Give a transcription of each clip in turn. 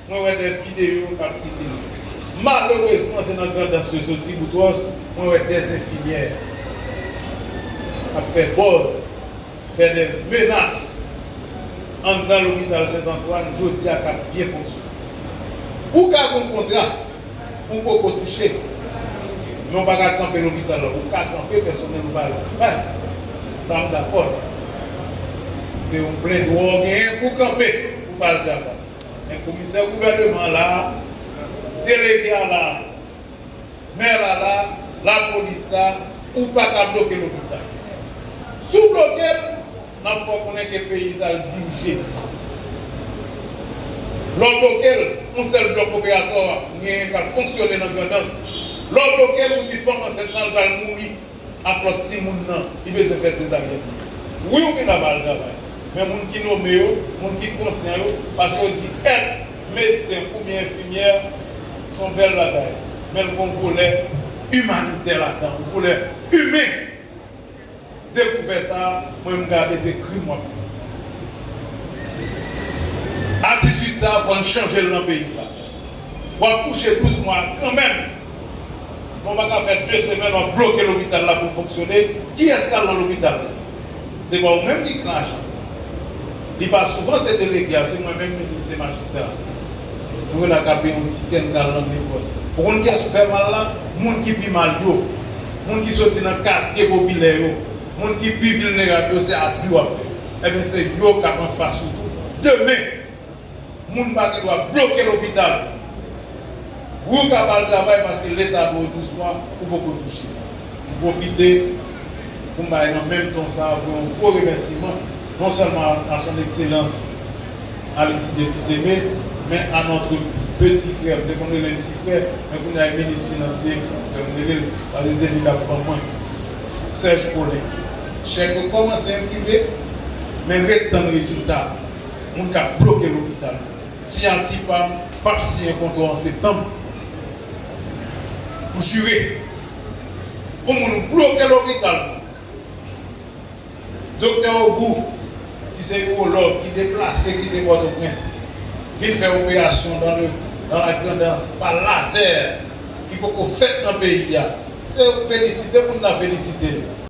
Mwen wè de videyo kap sikile. Malerezman se nan Grandans yo soti, Boutros, mwen wè de enfimyè ap fè bòz, fè de menas anndan lopital Sent Antwàn jodi a kap byen fonksyone. Ou ka gon kontra ou poko touche, men ou pa ka kanpe lopital la. Ou ka kanpe pèsonèl ou pa al travay, sa m dakò l. Se yon plendwa ou genyen pou kanpe. pou pa al travay. Men komisè gouvèneman an la, delege a la, mè la la, lapolis la, ou pa ka bloke lopital. Si w bloke l, n ap fè w konnen ke peyi sa yo dirije. Lè w bloke l, yon sèl blòk operatò a genyen k ap fonksyone nan Grandans. Lè w bloke l, ou di fanm ansent lan l pral mouri. ak lòt timoun nan li bezwen fè sezaryen pou yo wi yo gen dwa pa al travay men moun ki nome yo moun ki konsyan yo paske yo di èt medsen oubyen enfimyè son bèl bagay men l gon volè imanitè ladan yon volè imen depi w fè sa mwen m gade se krim wap fè atitid sa fòn chanje l nan peyi sa wap kouche 12 mwa kanmenm. Nou pa ka fè 2 semèn wap bloke lopital la poul fonksyone, kiyès kal nan lopital la? Se pa ou menm ki gen lajan. Li pa souvan se delege a, se mwen menm minis, se majistra a. Nou gen dwa ka peye yon tikè n kal nan nenpòt. Ou konn kiyès ou fè mal la? Moun ki pi mal yo, moun ki soti nan katye popilè yo, moun ki pi vilnerab yo se abi wap fè. Ebyen se yo kap anfas ou tou demen. moun pa gen dwa bloke lopital pou yo ka pa al travay paske leta ba w 12 mwa ou poko touche. M pwofite pou m bay nan menm ton sa a voye yon gwo remèsiman non sèlman a son ekselans Alexis Djephis Aimé men a notre petit frère m te konn rele l ti frè men kounye a e minis finansye gran frè m rele l paske se li k ap ban mwen Serge Paulin. Chèk yo kòmanse enprime men ret tann rezilta. Moun kap bloke lopital yo. Siyati pam pap siyen kontrò an septanm Pou jire Pou moun ou bloke lopital moun Doktè ogou ki se urològ ki deplase kite pòtoprens vin fè operasyon dan le dan la grandans pa lazè ki poko fèt nan peyi a se yo k felisite moun nan felisite l.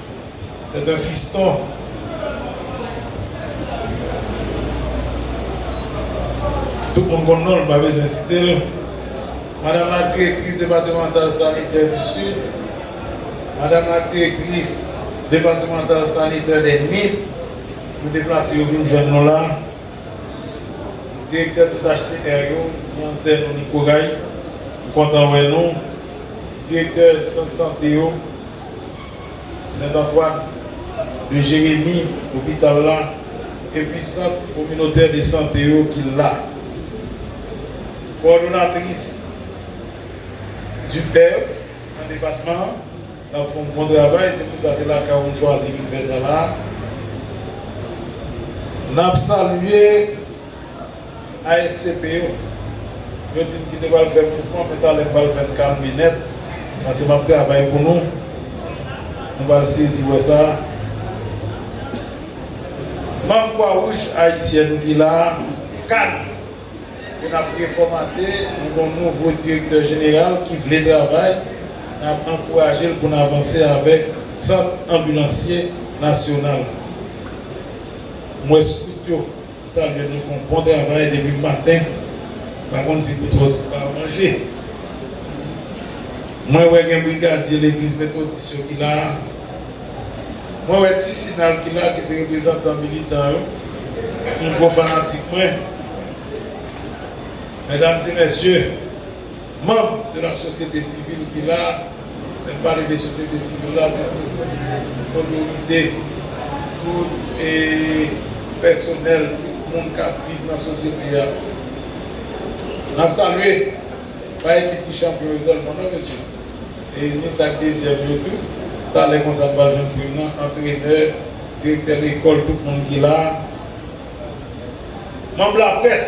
C'est un fiston. Tout moun konn non l, m pa bezwen site l. Madam la direktris depatimantal sanitè di Sid. Madam la direktris depatimantal sanitè dè Nip. Yo deplase yo vin jwenn nou la. Direktè tout HCR yo, Nyans dè Nou Nikoray, m kontan wè nou. Direktè sant sante yo. Sent Antwàn de Jeremi, Lopital la, epi sant kominotè de sante yo ki la. Kowòdonatris Duperthe nan depatman an nan fè yon bon travay, se pou sa se lakay ou m chwazi vin fè sa la a. N ap salye. ASCP yo, yo di m ki te pral fè mouvman men talè m pral fè l kalme nèt pase m ap travay pou nou. Nou pral sezi wè sa. Manm Kwa Wouj Ayisyèn ki la, kad ke n ap refòmate, nou gen yon nouvo direktè jeneral ki vle travay, n ap ankouraje l pou n avanse avèk Sant Anbilansye Nasyonal la. M wè skout yo. Ou salye nou fon bon travay depi maten pa konn si boutros pa manje humm mwen wè gen brigadye legliz metodis yo ki la mwen wè ti sinal ki la ki se reprezantan militan yo humm gwo fanatik mwen medam e mesye. Manb de la sosyete sivil ki la, lè m pale de sosyete sivil la se tout otorite, tout pèsonèl, tout moun k ap viv nan sosyete a. N ap salye, pa ekip ki chanpyon yo sèlman non mesye, ni sa k dezyèm yo tou, talè konsa n pral jwenn prim nan, antrenè, direktè lekòl, tout moun ki la, manb laprès.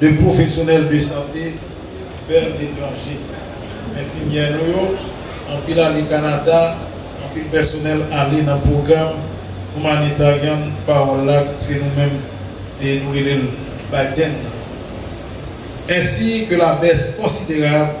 2 pwofesyonèl de sante fè l etranje. Enfimyè nou yo, anpil ale Kanada, anpil pèsonèl ale nan pwogram Humanitarian Parole la, se nou menm nou rele l Biden nan. Ensi ke la bès konsiderab.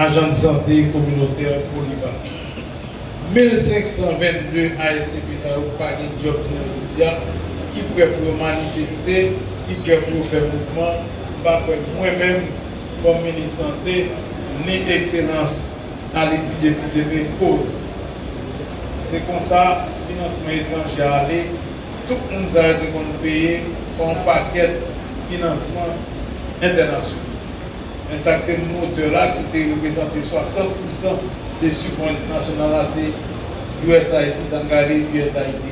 Ajans Sante Kominotè Polivalan. 1522 ASCP sa yo pa gen djòb jounen jodi a, ki prè pou yo manifeste, ki prè pou yo fè mouvman, m pa kwè mwen menm kòm minis sante, ni ekselans Aly Didier Fils-Aimé koz se konsa finansman etranje a ale, tout moun sa yo te konn peye pa yon pakèt finansman entènasyonal. Men sa k te moun otè la ki te reprezante 60 pousan de sipò entènasyonal la se usaid, sa n gade usaid.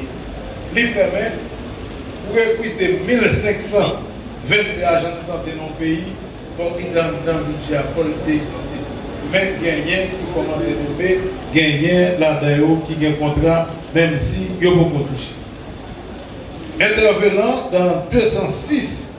Li fèmen pou rekrite 1522 ajan de sante nan yon peyi fòk li te anndan bidjè a, fòk li te egziste. Men genyen ki kòmanse tonbe, genyen ladan yo ki gen kontra menm si yo poko touche. Entèvenan dan 206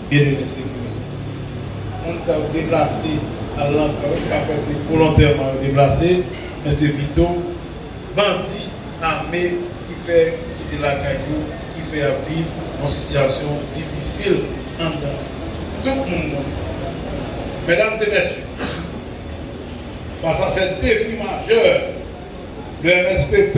Beni mwen se pou mwen. Moun sa yo deplase al lan fran wi m pa kwè se volontèman yo deplase men se pito bandi ame ki fè yo kite lakay yo ki fè yap viv yon sitiyasyon difisil anndan tout moun konn sa mèdam e mèsye fas a sèt defi majè le mspp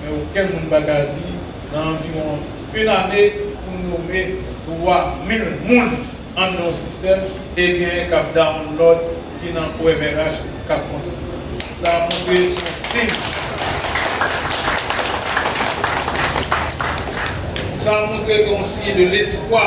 men okenn moun pa ka di nan anviwon 1 ane pou nome 3 mil moun anndan yon sistèm e genyen k ap dawonlòd ki nan OMRH k ap kontinye. Sa a montre se yon siy. Sa a montre ke yon siy de lespwa.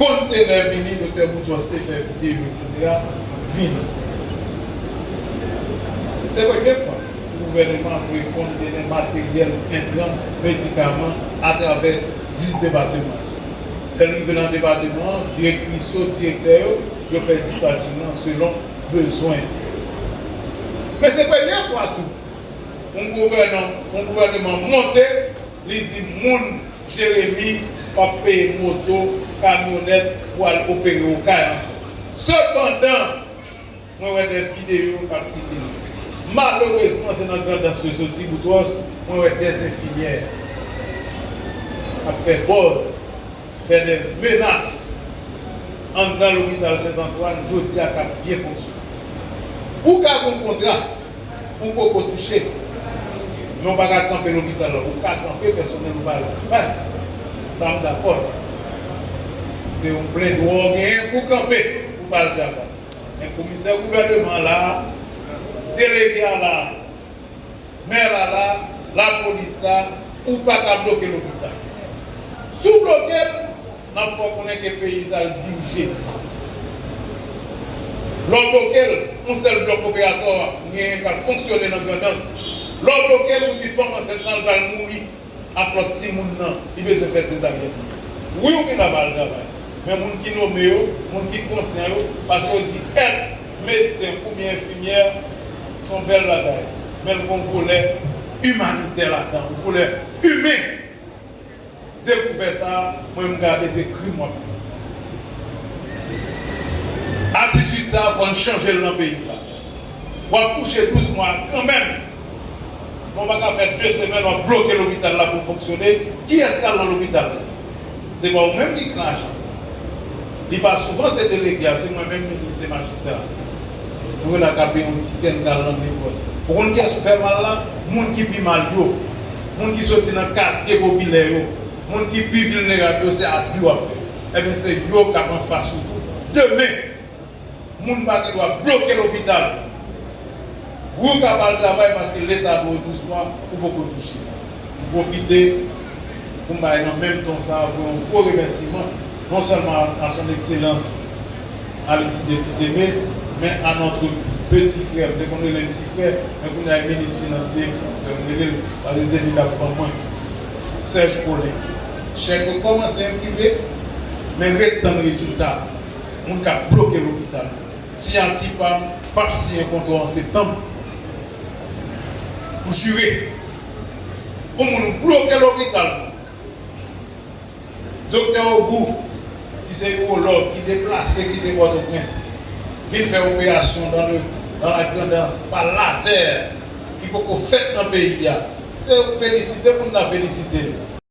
Kontenè vini Doktè Boutros te fè videyo etc. Vini. Se premye fwa gouvèneman ap voye kontenè materyèl, entran, medikaman atravè 10 depateman yo. Lè l rive lan depateman an, direktris yo, direktè yo, yo fè dispatching lan selon bezwen yo. Men se premye fwa tou yon gouvèneman monte Li di moun Jeremi pap peye moto, kamyonèt pou al opere Okay ankò. Sepandan, mwen wè dè videyo kap sikile. Malerezman se nan Grandans yo soti, Boutros, mwen wè dè enfimyè ap fè bòz, fè dè menas anndan lopital Sent Antwàn jodi a kap byen fonksyone. Ou ka gon kontra. Ou poko touche men ou pa ka kanpe lopital la ou ka kanpe pèsonèl ou pa al travay sa m dakò l se yon plen dwa w genyen pou kanpe pou pa al travay men komisè gouvèneman an la delege a la mè la la lapolis la ou pa ka bloke lopital si w bloke l Nan fè w konnen ke peyi sa yo dirije Lè w bloke l, yon sèl blòk operatò a genyen k ap fonksyone nan Grandans. Lè w bloke l, ou di fanm ansent lan l pral mouri ak lòt timoun nan, li bezwen fè sezaryèn. Wi ou vin la ba al travay, men moun ki nome yo, moun ki konsyan yo, paske yo di èt medsen oubyen enfimyè s on bèl bagay, men l gen yon volè imanitè ladan, yon volè imen. Depiw fè sa mwen m gade se krim wap fè. Atitid sa fòn chanjel nan peyi sa. Wap kouche 12 mwa kanmenm men w paka fè 2 semèn wap bloke lopital la poul fonksyone kiyès kal nan lopital la se pa ou menm ki gen lajan. Li pa souvan se delege a, se mwen menm minis se majistra a. Nou rele akape yon ti kè n ka lann li bwè. Ou konn kiyès ou fè mal la? Moun ki pi mal yo. Moun ki soti nan katye popilè yo. Moun ki pi vilnerab yo se abi w ap fè. Enben se yo k ap anfas ou tou demen! Moun pa gen dwa bloke lopital pou w ka pa al travay paske leta ba w 12 mwa ou poko touche. M pwofite pou m bay nan menm ton sa voye yon gwo remèsiman non sèlman a Son Ekselans Alexis J. Fils-Aimé men a notre petit frère, m te konn rele l ti frè men kounye a e minis finansye, gran frè m rele l paske se li k ap ban mwen, Serge Paulin. Chèk yo kòmanse enprime men ret tann rezilta. moun k ap bloke lopital yo. Si Antipam p ap siyen kontrò an septanm, m jire pou moun ou bloke lopital nou an. Doktè Ogou, ki se iwològ, ki deplase kite Pòtoprens vin fè operasyon dan le dan la grandans pa lazè ki poko fèt nan peyi a, se yo k felisite moun nan felisite l.